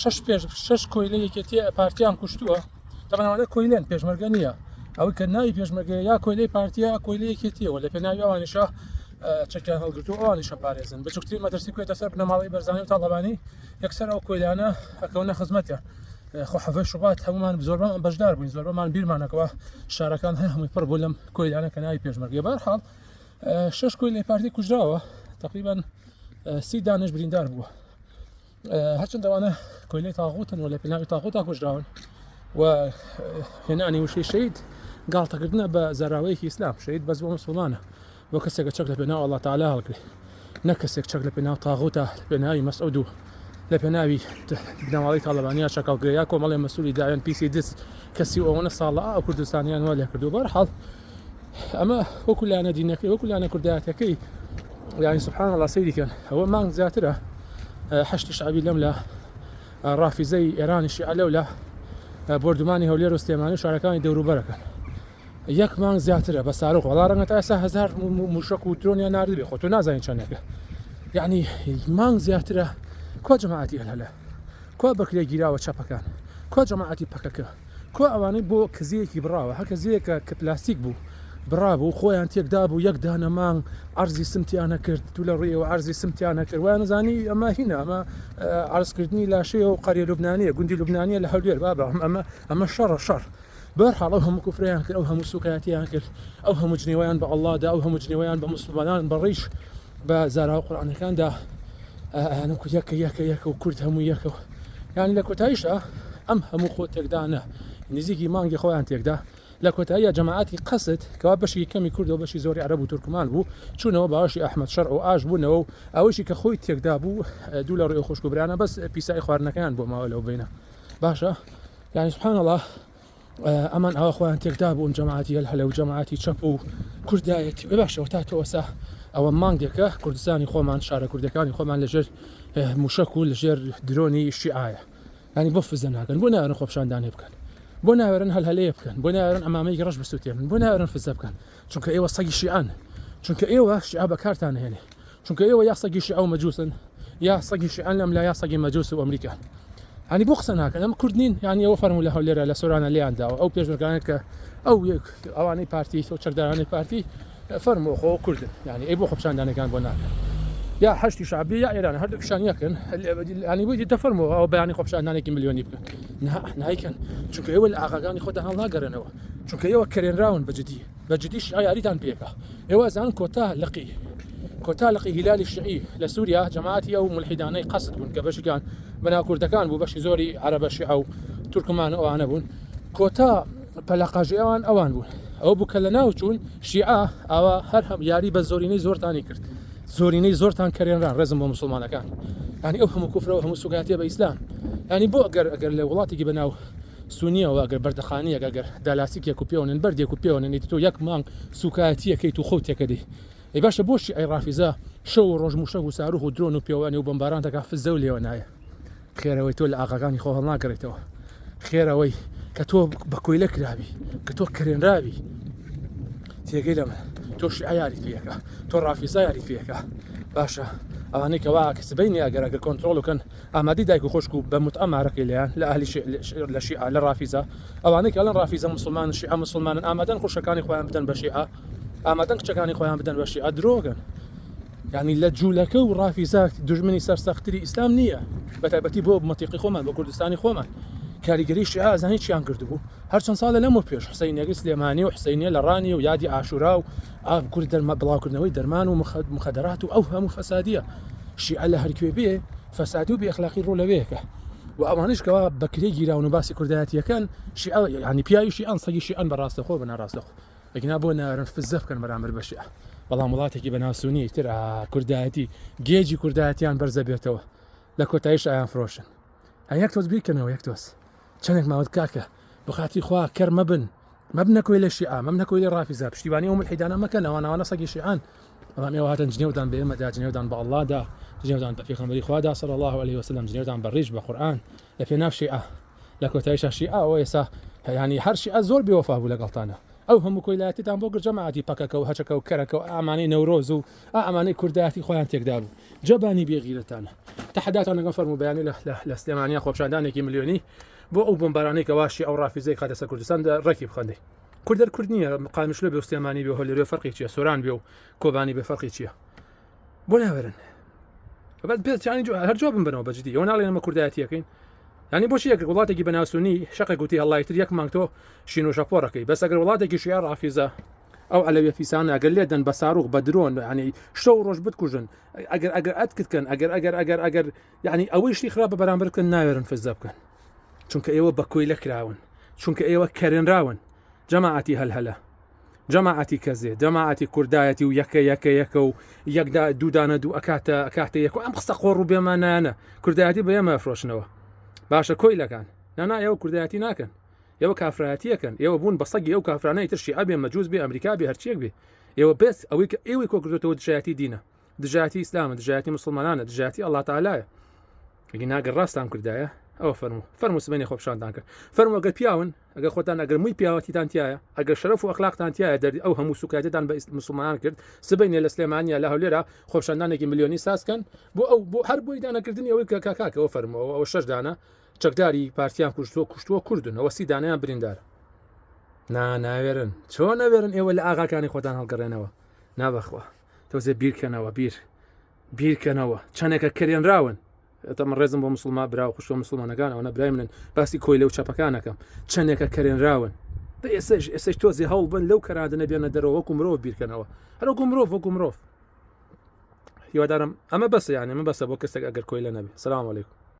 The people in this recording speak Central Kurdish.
شش پێش شش کۆیلە یەکێتی پارتیان کوشتووە تەمانەوە کۆیلێن پێشمەرگە نییە ئەوەی کە ناوی پێشمەرگە یا کۆیلەی پارتیا کۆیلی یەکێتیەوە لە پێناوی ئەوانیشە چەکیان هەڵگرتو ئەوانیشە پارێزن بچووکتری مەترسی کوێتە سەر بنەماڵی بەرزانانی و تاڵەبانی یەکسەر ئەو کۆیلانە ئەکەونە خزمەتە خۆ حەفە شوبات هەمومان زۆربان بەشدار بووین زۆربەمان بیرمانەکەەوە شارەکان هەر هەمووی پڕ بوو لەم کۆیلانە کە ناوی پێشمەرگێ بارحاڵ شش کۆی لە پارتی کوژراوە تقریبان سی دانش بریندار بووە هەرچەند ئەوانە کۆیلەی تاغوتن و لە پێناوی تاغوتا کوژراون و هێنانی وشەی شەید گاڵتەکردنە بە زاراوەیەکی ئیسلام شەید بەس بۆ مسلمانە بۆ کەسێکە چەک لە پێناو ئەڵا تعالا هەڵگرێ نە کەسێک چەک لە پێناو تاغوتا لە پێناوی مەسعود و لە پێناوی بنەماڵی تاالبانیا چەکەڵگرەیە کۆمەڵی مەسووری داوێن پیسی دز کەسی ئەوەنە ساڵە ئەو کوردستانیان وە لێکردو بەرحاڵ ئەمە وەکو لایەنە دینەکەی وەکو لایەنە کوردایەتەکەی یانی سبحان الله سەیری کەن ئەوە مانگ زیاترە هەشتی شعبی لەم لە ڕافیزەی ئێرانی شیعە لەو لە بردومانی هەولێر و سلێمانی شارەکانی دەوروبەرەکەن یەک مانگ زیاترە بە سارۆک وڵا ڕەنگە تا ئێستا هزار موشک و درۆنیان نردبێ خۆ تۆ نازانین چەندەکە یعنی مانگ زیاترە کۆ جەماعەتی هەلە کۆ بەکرێ گیراوە چەپەکان کۆ جەماعەتی پەکەکە کوا ئەوانەی بۆ کزەیەکی بڕاوە هەر کزەیەکە کە پلاستیک بوو بڕابوو خۆیان تێک دابوو یەک دانە مانگ عەرزی سمتیان نەکرد تو لە ڕوویەوە عەرزی سمتیان نەکرد وایان ئەزانی ئەمە هینە ئەمە عەرزکردنی لاشەیە و قەریە لوبنانیە گوندی لوبنانیە لە هەولێر بابە ئەمە ئەمە شەڕە شەڕ بەرحاڵ ئەو هەموو کوفریان کرد ئەو هەموو سوکایەتیان کرد ئەو هەموو جنێویان بە ئەڵڵادا ئەو هەموو جنێویان بە موسڵمانان بە ڕیش بە زاراوە قورئانەکاندا ئەیانم کورد یەکە یەکە یەکە و کورد هەموو یەکە یان لە کۆتاییشدا ئەم هەموو خۆ تێکدانە نزیکی مانگی خۆیان تێکدا لە کۆتاییە جەماعەتی قەست کەوا بەشی کەمی کوردەوە بەشی زۆری عرب و تورکمان بوو چوونەوە باوەشی ئەحمد شەرع و ئاش بوونەوە و ئەوەشی کە خۆی تێکدا بوو دوو لە ڕێ خۆشکوبرانە بەس پیسایی خواردنەکەیان بۆ ماوە لەو بینە باشە یعنی سبحان الله ئەمان ئاوا خۆیان تێکدا بوون جەماعەتی هەل هەلە و جەماعەتی چەپ و کوردایەتی بێ باشەوە تا تۆسا ئەوە مانگێکە کوردستانی خۆمان شارە کوردەکانی خۆمان لەژێر موشک و لەژێر درۆنی شیعاە ینی بۆ فزە ناکەن بۆ نارن خۆپشاندانێ بکەن بۆ ناوێرن هەل هەلەیە بکەن بۆ ناوێرن ئەمامەی ڕەش بسووتێن بۆ ناوێرن فزە بکەن چونکە ئێوە سەگی شیعەن چونکە ئێوە شیعە بەکارتان هێنێ چونکە ئێوە یا سەگی شیعە و مەجوسن یا سەگی شیعەن لەم لا یا سەگی مەجوس و ئەمریکا هەنی بۆ قسە ناکەن ئەم کورد نین یانی ئەوە فەرمو لە هەولێرە لە سۆرانە لێیان داوە ئەو پێشمەرگانێت کە ئەو ئەوانەی پارتی تۆ چەکدارانی پارتی فەرمو خۆ کوردن یانی ئەی بۆ خۆپشاندانەکان بۆ ناکەن یا هەشتی شعبی یا ئێران هەردوو پیشان یەکن ئەنی بووی دەفەرمەوە ئەو بەیانی خۆپشاندانێکی ملیۆنی بکەن نایکەن چونکە ئێوە لە ئاغاکانی خۆتان هەڵناگەرنەوە چونکە ئێوە کەرێنراون بە جدی بە جدی شیعە یاریتان پێکا ئێوە ئەزانن کۆتا لقی کۆتا لقی هیلالی شیعی لە سووریا جەماعەتی ئەو ملحیدانەی قەسد بوون کە بەشیان بەناو کوردەکان بوو بەشی زۆری عەرەبە شیعە و تورکمان و ئەوانە بوون کۆتا پەلەقاژی ئەوان ئەوان بوون ئەو بوو کە لە ناو چوون شیعە ئاوا هەر هەم یاری بە زۆرینەی زۆرتانی کرد زۆرینەی زۆرتان کەرێنران ڕێزم بۆ مسلمانەکان ینی ئەو هەموو کوفرەوە هەموو سوگاتیە بە ئیسلام ینی بۆ ئەگەر ئەگەر لە وڵاتێکی بەناو سونیە وە ئەگەر بەردەخانیەک ئەگەر دالاستیکێک و پێوە نەن بەردێک و پێوە نەن ئیتر تۆ یەک مانگ سوکایەتی ئەکەیت و خۆو تێکەدەی ئەی باشە بۆ شیعەی ڕافیزە شەو و ڕۆژ موشەک و ساروخ و درۆن و پێوانی و بۆمباران دەکا فزەو لێوە نایە خێر ئەوەی تۆ لە ئاغاکانی خۆ هەڵناگەڕێتەوە خێر ئەوەی کە تۆ بە کۆیلە کراوی کە تۆ کرێنراوی تێگەی لەمە تۆ شیعە یاری پێەکە تۆ ڕافیزا یاری پێەکە باشە ئەوانەی کەوا کە سبینی ئەگەر ئەگەر کۆنتترۆڵ بکەن ئامادەی دایک و خوشک و بە متعە مارەکەی لێیان، لە ئەهلی شیعە، لە شیعە، لە ڕافیزە، ئەوانەی کە ئەڵێن ڕافیزە موسڵمانن، شیعە موسڵمانن، ئامادەن خوشکەکانی خۆیان بدەن بە شیعە، ئامادەن کچەکانی خۆیان بدەن بە شیعە، درۆگەن. یانی لە جولەکە و ڕافیزە دوژمنی سەرسەختتری ئیسلام نییە، بە تایبەتی بۆ مەتیقی خۆمان، بۆ کوردستانی خۆمان. کاریگەری شیعە ئەزانی چیان کردبوو؟ هەر چەند ساڵە لەمەو پێش، حسەینیەکەی سلێمانی و حسەینیە لە ڕانیە و یادی عاشورا و ئابکورد دەرما بڵاوکردنەوەی دەرمان و مخد مخدرات و ئەو هەموو فەسادیە شیعە لە هەرکوێ بێ فەسادی و بێخلاقی ڕوو لەوەیەکە و ئەوانش کەوا بەکرێ گیراون و باسی کوردایەتیەکەن شیعە ینی پیاویشی ئەن سەگیشی ئەن بەڕاستە خۆ بە ناڕاستەخۆ ئەگنا بۆ نارن فزە بکەن بەرامبەر بە شیعە بەڵام وڵاتێکی بەناسوونی تر کوردایەتی گێجی کوردایەتیان بەرزە بێتەوە لە کۆتایش ئایان فرۆشن هەیەک تۆز بیکەنەوە یەک تۆز چەندێک ماوەت کاکە بخاتی خوا کەر مەبن مەبنە کۆیلە شیعە مەبنە کۆیلە ڕافیزە پشتیوانی ئەو ملحیدانە مەکەن ئەوان ئەوانە سەگی شیعەن بەڵام ئێوە هاتن جنێودان بە ئێمەدا جنێودان بە ئەڵڵادا جنێودان بە پێغەمبەری خوادا صلی الله علیه وسلم جنێودان بە ڕیش بە قورئان لە پێناو شیعە لە کۆتاییشا شیعە ئەوە ئێستا هەیانی هەر شیعە زۆر بێوەفا بوو لەگەڵتانە ئەو هەموو کۆیلایەتیتان بۆ گرت جەماعەتی پەکەکە و هەچەکە و کەرەکە و ئامانەی نەورۆز و ئامانەی کوردایەتی خۆیان تێکدا بوو جەبانی بێغیرەتانە تەحەداتان لەگەڵ فەرموبەیانی لە سلێمانیە خۆپیشاندانێکی ملیۆنی بۆ ئەو بۆمبارانەی کە واشی ئەو ڕافیزەی خاتە سەر کوردستان دە ڕێکی بخەندەی کوردەر کورد نییە قامشلە بێ سلێمانی بێ هەلێرێ فەرقی چیە سۆران بێ و کۆبانی بێ فەرقی چییە بۆ ناوێرن بەس پێچانی هەر جواب بن بنەوە بەجدی ئەو ناڵێنەمە کوردایەتیەکەین ینی بۆچی یەک وڵاتێکی بەناسونی شقە گوتی هەڵایتر یەک مانگتۆ شین و شەپۆڕەکەی بەس ئەگەر وڵاتێکی شیع ڕافیزە ئەو ئەلەوێ پیسان ئەگەر لێدەن بە ساروخ بە درۆن ینی شەو ڕۆژ بتکوژن ئەگەر ئەگەر ئەتکردکەن ئەگەر ئەگەر ئەگەر ئەگەر ئەگەر یعنی ئەوەی شتی خراپە بەرامبەر بکەن ناوێرن فزدا بکەن چونکە ئێوە بە کۆی لەکراون چونکە ئێوە کەرێنراون جەماعەتی هەلهەلە جەماعەتی کەزێ جەماعەتی کوردایەتی و یەکە یەکە یەکە و یەکدا دوودانە دوو ئەکاتە ئەکاتە یەک ئەم قسە قۆڕ و بێمانایانە کوردایەتی بە ئێمە فرۆشنەوە باشە کۆی لەکان نانا ئێوە کوردایەتی ناکەن ئێوە کافرایەتیەکەن ئێوە بوون بە سەگی ئەو کافرانەی ترشی ئەبێ مەجووز بێ ئەمریکا بێ هەرچیەک بێ ئێوە بێت ئەوەی کە ئێوەی کۆکردێتەوە دژایەتی دینە دژایەتی ئیسلامە دژایەتی مسلمانانە دژایەتی ئەللا تاالایە ئەگی ناگە ڕاستان کردایە ئەوە فەرمو فەرمو سبێنی خۆپشاندان کرد فەرمو ئەگەر پیاون ئەگەر خۆتان ئەگەر مووی پیاوەتیتان تایە ئەگەر شەرف و ئەخلاقتان تایە دەردی ئەو هەموو سوکایەتان بە مسلمانان کرد سبینە لە سلێمانیا لە هەولێرا خۆپشاندانێکی ملیۆنی سازکەن بۆ ئەو بۆ هەر بۆی دانەکردنی ئەوەی کە کاکەەوە فەرمەوە ئەو شەشدانە چەکداری پارتیان کوشتووە کوشتووە کوردن ئەوە سیدانیان بریندار نا ناوێرن چۆن ناوێرن ئێوە لە ئاغاکانی خۆتان هەڵگەڕێنەوە نابخوا تۆزێ بیرکەنەوە بیر بیرکەنەوە چەندێکە کەێنراون ئەتەمە ڕێزم بۆ مسلما برا و خوشتۆ مسلمانەکانەوە نەبرای منن باسی کۆی لەو چەپەکانەکەم چەندێکە کەێنراون بە ئێسش ئێسش تۆزی هەوڵ بن لەو کەرادنە بێنە دەرەوە وەکو مرۆڤ بیرکەنەوە هەرۆکو مرۆڤ وەکو مرۆڤ هیوادارم ئەمە بەسە یانە من بەسە بۆ کەسێک ئەگەر کۆی لە نەبێ سلام علیکم